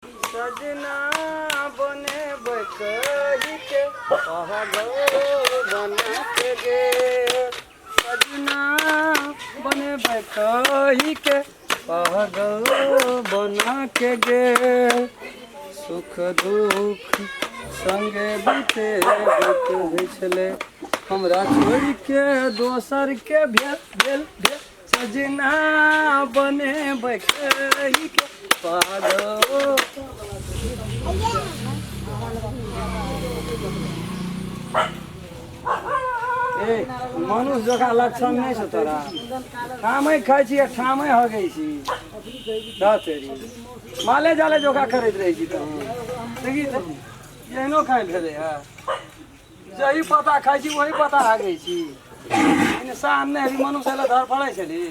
सजना बनेबै कहिके पहगौर बनाके गे सजना बनेबै कहिके पहगौर बनाके गे सुख दुख संगे बीते बीत होइ छलै हमरा छोड़ि के दोसर के भेल भेल भेल सजना बने बकरी के पागो ए मनुष्य जकाँ लक्षण नहि छ तोरा ठामै खाइ छी आ ठामै हगै छी द तेरी माले जाले जोका करैत रहै छी तहन देखी तऽ एहनो खाइ भेलै हे जही पता खाइ छी वही पता हागै छी इंसान नहि हेबी मनुष्य लए धर पड़ै छली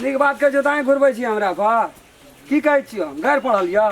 नीक बातके जोताइ घुरबै छी हमरा पर की कहै छियै गारि पढ़ल यऽ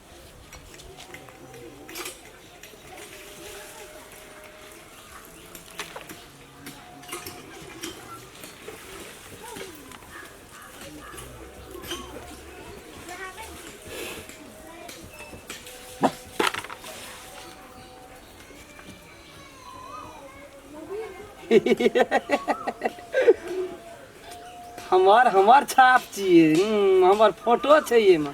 हमर हमर छाप छियै हम्म, हमर फोटो छै एहिमे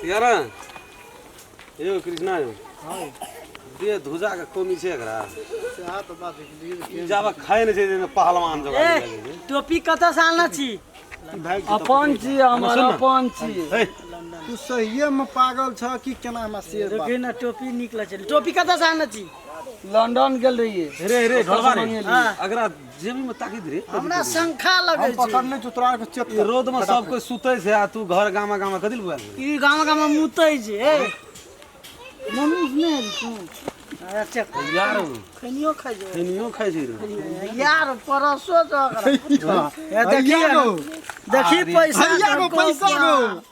तियारा यो कृष्णा यो दे धुजा के कमी छै एकरा ई जाबा खाए नै छै जेना पहलवान जका ए लागै छै। टोपी कतऽ से आनला छी अपन छी हमर सुन न। अपन छी हे, तू सहिए में पागल छ कि केना हमरा शेर बात रुकी ना टोपी निकला छै टोपी कतऽ से आनला छी लंदन गेल रहिए रे रे ढोलवा रे हाँ। अगरा जेबी में ताकि दे हमरा शंखा लगे हम पकड़ नहीं तू तोरा के चेत रोड में सब कोई सुते छे आ तू घर गामा गामा कदिल बुआ ई गामा गामा मुते छे मम्मी ने तू अच्छा यार खनियो खाइ जे खनियो खाइ जे यार परसो तो ए देखिए देखिए पैसा पैसा